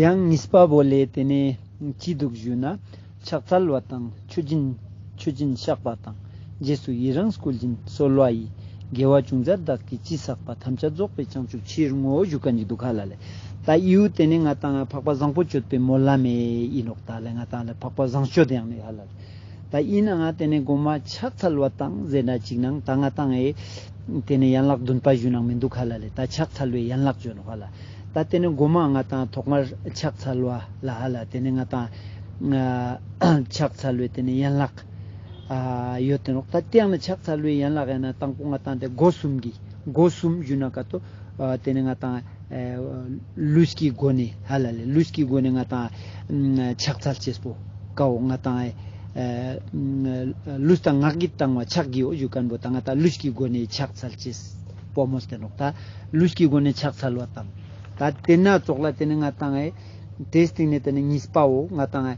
ཡང་ངིས་པ་བོ་ལས་དེ་ནས་སྐྱིད་སྡུག་བཞུགས་ན་ཕྱག་འཚལ་བ་དང་མཆོད་སྦྱིན་མཆོད་སྦྱིན་བཤགས་པ་དང་རྗེས་སུ་ཡི་རངས་བསྐུལ་སྦྱིན་གསོལ་བ་ཡིས་དགེ་བ་ཅུང་ཟད་བདག་གིས་ཅི་བསགས་པ་ཐམས་ཅད་རྫོགས་པའི་བྱང་ཆུབ་ཕྱིར་བསྔོ་བཞུགས་ཀ་འཇིག་དུ་ཁ་ལ་ལས་ད་ཨིའུ་དེ་ནས་ང་དང་ལ་འཕགས་པ་བཟང་པོ་སྤྱོད་པའི་མོ་ལ་མེ་ཨིནོག་ད་ལས་ང་དང་ལ་འཕགས་པ་བཟང་སྤྱོད་ཡང་མེ་ཧ་ལ། ད་ཡིན་ན་ང་དེ་ནས་སྒོ་མ་ཕྱག་འཚལ་བ་དང་ཟེར་འདྲ་ཅིག་གནང་ད་ང་བཏང་ཨེ། དེ་ནས་ཡན་ལག་བདུན་པ་བཞུགས་གནང་མི་འདུག་ག་ལ་ལས་ད་ཕྱག་འཚལ་བའི་ཡན་ལག་བརྗོད་ནོ་ག་ལ། ད་དེ་ནས་སྒོ་མ་ང་དང་ཐོག་མར་ཕྱག་འཚལ་བ་ལ་ཨ་ལ་དེ་ནས་ང་དང། ཕྱག་འཚལ་བའི་དེ་ནས་ཡན་ལག། ཡོད་དེ་རོགས་ད་དེ་ཡང་ན་ཕྱག་འཚལ་བའི་ཡན་ལག་ཡང་ན་དང་པོ་ང་དང་དེ་སྒོ་གསུམ་གྱི་སྒོ་གསུམ་བཞུགས་གནང་ག་དོ། དེ་ནས་ང་དང། ལུས་ཀྱི་སྒོ་ནས་ཧ་ལ་ལས་ལུས་ཀྱི་སྒོ་ནས་ང་དང། ཕྱག་འཚལ་ཅེས་སོ། ཀའོ་ང་དང། ལུས་དང་ངག་གིས་བཏང་བ་ཕྱག་བགྱི་འོ་ཞུགས་སྐམ་པོ་དང་ང་དང་ལུས་ཀྱི་སྒོ་ནས་ཕྱག་འཚལ་ཅེས་པོ་མོས་སྟེ་ནོག་དང་ལུས་ཀྱི་སྒོ་ནས་ཕྱག་འཚལ་བ་དང། དེ་ནི་སྩོགས་ལ་དེ་ནི་ང་དང། དེའི་སྟེང་ནས་དེ་ནི་གཉིས་པའོ་ང་དང།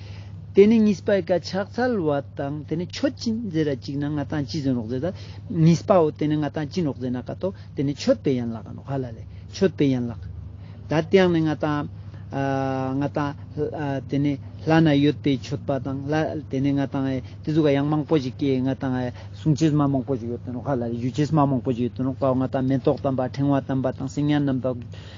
དེ་ནི་གཉིས་པའི་སྐད་ཆ་ཚལ་བ་དང་དེ་ནི་ཆོས་ཅི་མཛད་ར་གཅིག་ན་ང་དང་ཅི་ཟིན་རོགས་མཛད་ད་གཉིས་པའོ་དེ་ནི་ང་དང་ཅི་རོགས་མཛད་ན་ཀ་ཏོ་དེ་ནི་ཆོས་དཔེ་ཡན་ལག་ག་ནོ་ཧ་ལ་ལེ་ཆོས་དཔེ་ཡན་ལག་ད་དེའང་ནི་ང་དང་ང་དང་དེ་ནི་ལྷ་ན་ཡོད་པའི་ཆོས་པ་དང་ལྷ་དེ་ནི་ང་དང་དེ་ཚོ་ག་ཡང་མང་པོ་ཞིག་གིས་ང་དང་གསུང་ཆོས་མ་མང་པོ་ཞིག་ཡོད་དོ་ནོ་ཧ་ལ་ལེ་ཞུ་ཆོས་མ་མང་པོ་ཞིག་ཡོད་དོ་ནོ་པའོ་ང་དང་མེ་ཏོག་དམ་པ་ཕྲེང་བ་དམ་པ་དང་སེང་གཡང་དམ་པ།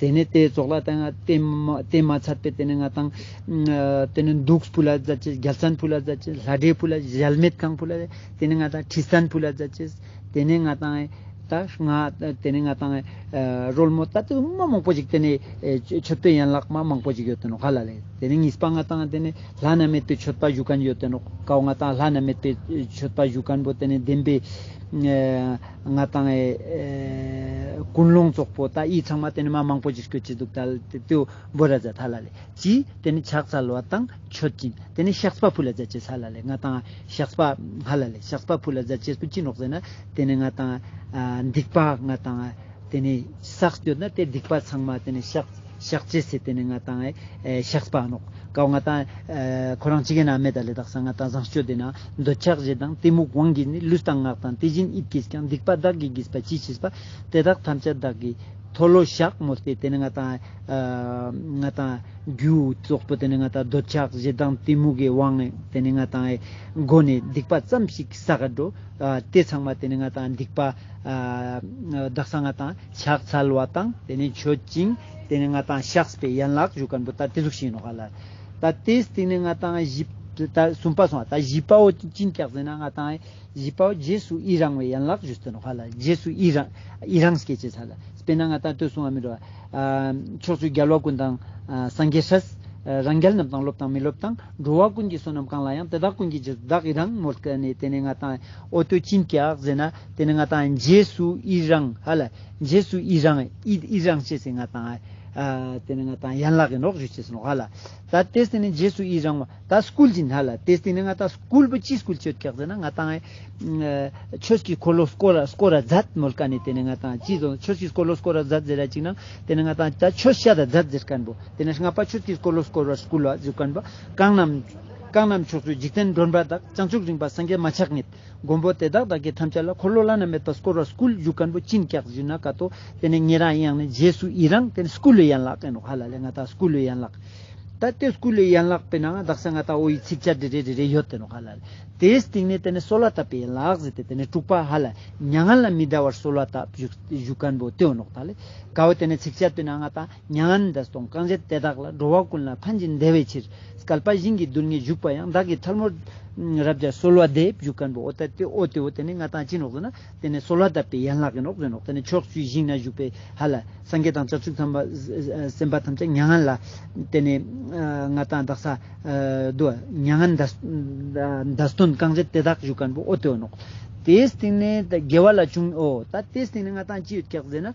དེ་ནས་དེའི་ཚོགས་ལ་དེ་སྟེ་མ་ཚར་པའི་དེ་ནས་ང་དང། དེ་ནས་འདུགས་བུ་ལ་བཟའ་བྱའི་རྒྱལ་མཚན་བུ་ལ་བཟའ་བྱའི་ལྷ་འདྲེའི་བུ་ལ་གཞལ་མེད་ཁང་བུ་ལ་དེ་ནས་ང་དང་ཁྲི་སྟན་བུ་ལ་བཟའ་བྱའི་དེ་ནས་ང་དང། དེ་ནས་ང་དང། རོལ་མོ་ལྟ་བུ་མང་པོ་ཞིག་དེ་ནས་མཆོད་པའི་ཡན་ལག་མང་པོ་ཞིག་ཡོད་དོ་ནོ་ག་ལ་ལས་དེ་ནས་གཉིས་པ་ང་དང་དེ་ནས་ལྷ་ན་མེད་པའི་མཆོད་པ་བཞུགས་མཁན་ཡོད་དོ་ནོ་གའོ་ང་དང་ལྷ་ན་མེད་པའི་མཆོད་པ་བཞུགས་མཁན་པོ་དེ་ནས་བདེན་པའི། ང་དང་ཨེ། ཀུན་སློང་ཙོག་པོ་ད་ཡིག་ཚང་མ་དེ་ནི་མ་མང་པོ་ཅིག་ཤོད་ཀྱི་འདུག་ད་ལ་དེ་ཏུ་འབོད་ར་ཛ་ཐ་ལ་ལེ་ཅི་དེ་ནི་ཕྱག་ཚ་ལོ་དང་མཆོད་ཅིང་དེ་ནི་ཤགས་པ་ཕུ་ལ་ཛ་ཅེ་ཚ་ལ་ལེ་ང་དང་ཨེ་ཤགས་པ་ཧ་ལ་ལེ་ཤགས་པ་ཕུ་ལ་ཛ་ཅེས་པོ་ཅི་ནོག་ཟེར་ན་དེ་ནི་ང་དང་ཨེ། སྡིག་པ་ང་དང་ཨེ་དེ་ནི་ཟག་སྐྱོད་ན་དེ་སྡིག་པ་ཚང་མ་དེ་ནི་ཤགས། ཞག་གཅིག་ཚེ་དེ་ནས་ང་དང་ཞག་སྤང་རོགས། ཀའོ་ང་དང། ཁོ་རང་ཅི་ག་ན་མེད་ད་ལེ་དག་ས་ང་དང་བཟང་སྤྱོད་དེ་ན། འདོད་ཆགས་བཞི་དང་གཏི་མུག་དབང་གིས་ནི་ལུས་དང་ངག་དང་དེ་བཞིན་དབྱིབས་ཀྱིས་ཀྱང་སྡིག་པ་བདག་གིས་བགྱིས་པ་ཅི་མཆིས་པ། དེ་དག་ཐམས་ཅད་བདག་གིས། མཐོལ་ལོ་བཤགས་མོ་སྟེ་དེ་ནས་ང་དང། ང་དང། རྒྱུའི་གཙོག་པོ་དེ་ནས་ང་དང་འདོད་ཆགས་བཞི་དང་གཏི་མུག་གི་དབང། དེ་ནས་ང་དང། སྒོ་ནས་སྡིག་པ་ཙམ་ཞིག་ས་ག་འགྲོ། དེ་ཚང་མ་དེ་ནས་ང་དང་སྡིག་པ། བདག་ས་ང་དང་ཕྱག་འཚལ་བ་དང་དེ་ནས་མཆོད་ཅིང་དེ་ནས་ང་དང་ཤཱཀ་པའི་ཡན་ལག་བཞུགས་ཀར་འབུལ་ལྟར་དེ་གཟུགས་བྱིན་ནོ། ད་དེས་དེ་ནས་ང་དང་བཞི་ལྟར་གསུམ་པ་སོང་བ་ད་བཞི་པའོ་སྤྱིན་བཀྱག་ཟིན་ན་ང་དང་བཞི་པའོ་རྗེས་སུ་ཡི་རང་བའི་ཡན་ལག་བཞུགས་ཟིན་ནོ། རྗེས་སུ་ཡི་རང་སྐད་ཅེས་བྱ། དཔེར་ན་ང་དང་ལྟོས་སོང་བ་མི་རུ། ཕྱོགས་བཅུའི་རྒྱལ་བ་ཀུན་དང་སངས་རྒྱས་ཧྲཱི། རང་རྒྱལ་རྣམས་དང་སློབ་དང་མི་སློབ་དང་འགྲོ་བ་ཀུན་གྱི་བསོད་ནམས་གང་ལ་ཡང་དེ་དག་ཀུན་གྱི་རྗེས་སུ་བདག་ཡི་རང་ངོར་བསྐལ་ནས་དེ་ནས་ང་དང། ཨོ་ཏོ་ཅིན་ཀྱག་ཟེར་ན་དེ་ནི་ང་དང་རྗེས་སུ་ཨི་རང་ཧ་ལ་རྗེས་སུ་ཨི་རང་ཨི་རང་བྱས་ཟིན་ང་དང་ཨ་དེ་ནི་ང་དང་ཡན་ལག་གི་འགྲོགས་བྱོས་བྱས་ཟིན་ཧ་ལ་ད་དེ་སྟེ་ནི་རྗེས་སུ་ཨི་རང་བ་ད་སྐུལ་ཅིན་ཧ་ལ་དེ་སྟེ་ནི་ང་དང་སྐུལ་བ་ཅི་སྐུལ་བྱོས་ཀྱག་ཟེར་ན་ང་དང་ཆོས་ཀྱི་འཁོར་ལོ་སྐོར་ར་སྐོར་ར་མཛད་མོལ་ཀ་ནི་དེ་ནི་ང་དང་ཅི་ཟོ་ཆོས་ཀྱི་འཁོར་ལོ་སྐོར་ར་མཛད་ཟེར་ར་ཅིག་ན་དེ་ནི་ང་དང་ད་ཆོས་བཤད་ར་མཛད་ཟེར་ཀན་པོ་དེ་ནི་སྔ་པ་ཆོས་ཀྱི་འཁོར་ལོ་སྐོར་བ་སྐུལ་བ་བྱོས་ཀན་པོ་གང་རྣམས། རྐང་སྣམ་ཕྱོགས་སུ་འཇིག་རྟེན་མགྲོན་པ་དག་བྱང་ཆུབ་རིངས་པ་སངས་རྒྱས་མ་ཆགས་ངེས། མགོན་པོ་དེ་དག་བདག་གིས་ཐམས་ཅད་ལ་འཁོར་ལོ་བླ་ན་མེད་པ་བསྐོར་བར་སྐུལ་བཞུགས་མཁན་པོ་ཅིན་སྐྱག་བཞི་ན་ཀ་ཏོ། དེ་ནས་ངེད་རང་ཡང་ནི་རྗེས་སུ་ཡི་རང་དེ་ནི་སྐུ་ལུས་ཡན་ལག་ཀན་རོག་ཧ་ལ་ལས་ང་དག་སྐུ་ལུས་ཡན་ལག། ད་ལྟའི་སྐུ་ལུས་ཡན་ལག་པའི་ནང་བདག་སེང་ང་ཏའོ་ཡི་ཚིག་བཅད་འདྲི་རེ་འདྲི་རེ་ཡོད་དེ་རོག་ཧ་ལ་ལས། དེའི་སྟེང་ནས་དེ་ནི་གསོལ་བ་བཏབ་པའི་ཡན་ལག་ཟེར་ཏེ་དེ་ནས་དྲུག་པ་ཧ་ལ་མྱ་ངན་ལ་མི་གདའ་བར་གསོལ་བ་བཏབ་བཞུགས་བཞུགས་མཁན་པོ་ཏེའོ་ནོག་ད་ལས། ཀའོ་དེ་ནས་ཚིག་བཅད་དུ་ནི་ང་དང། མྱ་ངན་འདས་སོང་རྐང་རྗེས་དེ་དག་ལ་འགྲོ་བ་ཀུན་ལ་ཕན་ཅིང་བདེ་བའི་ཕྱིར། སྐལ་པ་བཞིན་གྱི་རྡུལ་ལྔས་བཞུགས་པ་ཡང་བདག་གི་ཐལ་མོ། རབ་བྱ་གསོལ་བ་འདེབས་བཞུགས་མཁན་པོ་ཨོ་ཏི་ཏི་ཨོ་ཏི་ཨོ་དེ་ནི་མངའ་ཐང་སྤྱི་ནོག་ཟེར་ན། དེ་ནི་གསོལ་བ་གདབ་པའི་ཡན་ལག་གི་ནོག་ཟེར་ནོག་དེ་ནི་ཕྱོགས་བཅུའི་ཞིང་ན་བཞུགས་པའི་ཧ་ལ། སངས་རྒྱས་དང་བྱང་ཆུབ་སེམས་དཔའ་ཐམས་ཅད་མྱ་ངན་ལ། དེ་ནི་མངའ་ཐང་བདག་ས། དུ་བ་མྱ་ངན་འདས་སོན་རྐང་རྗེས་དེ་དག་བཞུགས་མཁན་པོ་ཨོ་ཏི་ཨོ་ནོག། དེའི་སྟེང་ནས་དགེ་བ་ལ་བྱུང་ཨོ། ད་དེའི་སྟེང་ནས་མངའ་ཐང་ཅི་ཡོད་ཀྱག་ཟེར་ན།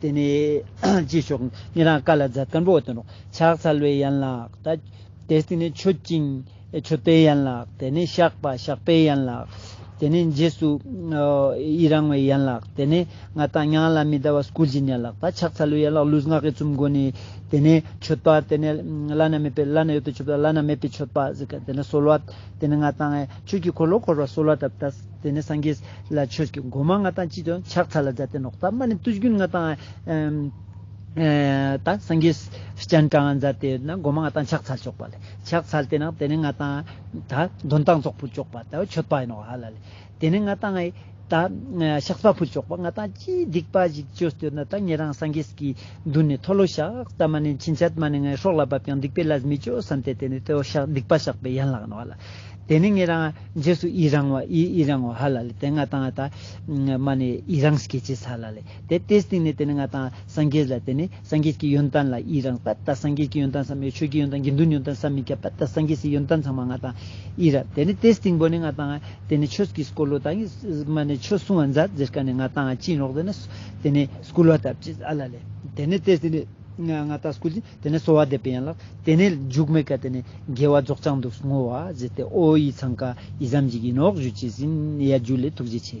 དེ་ནས་རྗེས་ཕྱོགས་ངེད་རང་དཀར་ལ་རྫ་དཀར་པོ་དང་ཕྱག་འཚལ་བའི་ཡན་ལག་དང། དེ་སྟེང་ནས་མཆོད་ཅིང་མཆོད་པའི་ཡན་ལག་དེ་ནས་བཤགས་པ་བཤགས་པའི་ཡན་ལག་དེ་ནས་རྗེས་སུ་ཡི་རང་བའི་ཡན་ལག་དེ་ནས་ང་དང་ཉང་ལ་མི་ཟླ་བ་སྐུལ་བཞིན་ཡན་ལག་དང་ཕྱག་འཚལ་བའི་ཡན་ལག་ལུས་ངག་གི་བཙུན་དགོན་ནས་དེ་ནས་མཆོད་པ་དེ་ནས་བླ་ན་མེད་པའི་བླ་ན་ཡོད་པའི་མཆོད་པ་བླ་ན་མེད་པའི་མཆོད་པ་དེ་ནས་གསོལ་བ་དེ་ནས་ང་དང་ཆོས་ཀྱི་འཁོར་ལོ་འཁོར་བར་གསོལ་བ་གདབ། དེ་ནས་སངས་རྒྱས་ལ་ཆོས་ཀྱི་སྒོ་མ་ལྔ་དང་སྤྱི་དོན་ཕྱག་འཚལ་ལ་མཛད་དེ་ནོག་རྩ་རྨ་ནི་བརྟུལ་ཞུགས་ལྔ་དང། སངས་རྒྱས་སྤྱན་དྲངས་ལ་མཛད་དེ་ན་སྒོ་མ་ལྔ་དང་ཕྱག་འཚལ་ལྕོགས་པ་ལས་ཕྱག་འཚལ་དེ་ན་དེ་ནས་ལྔ་དང། གདོན་དང་ཙོག་པུར་ལྕོགས་པ་དང་མཆོད་པ་ཡིན་ནོ་ཧ་ལ་ལས། དེ་ནས་ལྔ་དང། ཤག་ཚ་པུར་ལྕོགས་པ་ལྔ་དང་ཅིའི་སྡིག་པ་ཞིག་བཅོས་ཏེ་ན་ད་ངེད་རང་སངས་རྒྱས་ཀྱི་མདུན་ནས་མཐོལ་ལོ་ཤག་རྩ་རྨ་ནི་ཕྱིན་ཆད་མ་ནི་ངའི་ཧྲོག་ལ་བབ་ཀྱང་སྡིག་པའི་ལས་མི་བཅོས་བསམ་སྟེ་དེ་ནས་དེ་འོག་སྡིག་པ་བཤགས་པའི་ཡན་ལག་ཡིན་ནོ་ཧ་ལ། དེ་ནི་ངེད་རང་རྗེས་སུ་ཡི་རང་བ་ཡི་ཡི་རང་བ་ཧ་ལ་ལི་དེ་ང་དང་ཨ་ད་མ་ནི་ཡི་རང་སྐད་ཅེས་ཚ་ལ་ལི་དེ་ལྟའི་སྟེང་ནས་དེ་ནི་ང་དང་སངས་རྒྱས་ལ་དེ་ནི་སངས་རྒྱས་ཀྱི་ཡོན་ཏན་ལ་ཡི་རང་བ་ད་སངས་རྒྱས་ཀྱི་ཡོན་ཏན་བསམ་ཡོད་ཆོས་ཀྱི་ཡོན་ཏན་དགེ་འདུན་ཡོན་ཏན་བསམ་མི་ཁྱབ་བ་ད་སངས་རྒྱས་སི་ཡོན་ཏན་ཚང་མ་ང་དང་ཡི་ར་དེ་ནི་དེའི་སྟེང་བོ་ནི་ང་དང་དེ་ནི་ཆོས་ཀྱི་སྐོར་ལོ་དང་ཡི་མ་ནི་ཆོས་གསུང་བ་མཛའ་བརྩེ་དཀའ་ནི་ང་དང་ཨ་སྤྱིན་རོགས་དེ་ནི་དེ་ནི་སྐུ་ལོ་ད་བཅས་ཚ་ལ་ལི་དེ་ནི་དེའི་སྟེང་ནས་ང་དང་སྐུ། དེ་ནས་གསོལ་བ་འདེབས་པའི་ཡན་ལག། དེ་ནས་འཇུག་མེད་ཀ་དེ་ནས་དགེ་བ་རྫོགས་བྱང་དུ་བསྔོ་བ་བཞེས་ཏེ་ཨོ་ཡིས་འཚང་ཀ་ཡིས་བསམ་གྱིས་ཀྱིས་ནོག་གཞུ་བྱས་ཟིན་ཡ་རྒྱུ་ལས་ཐུགས་རྗེ་ཆེ།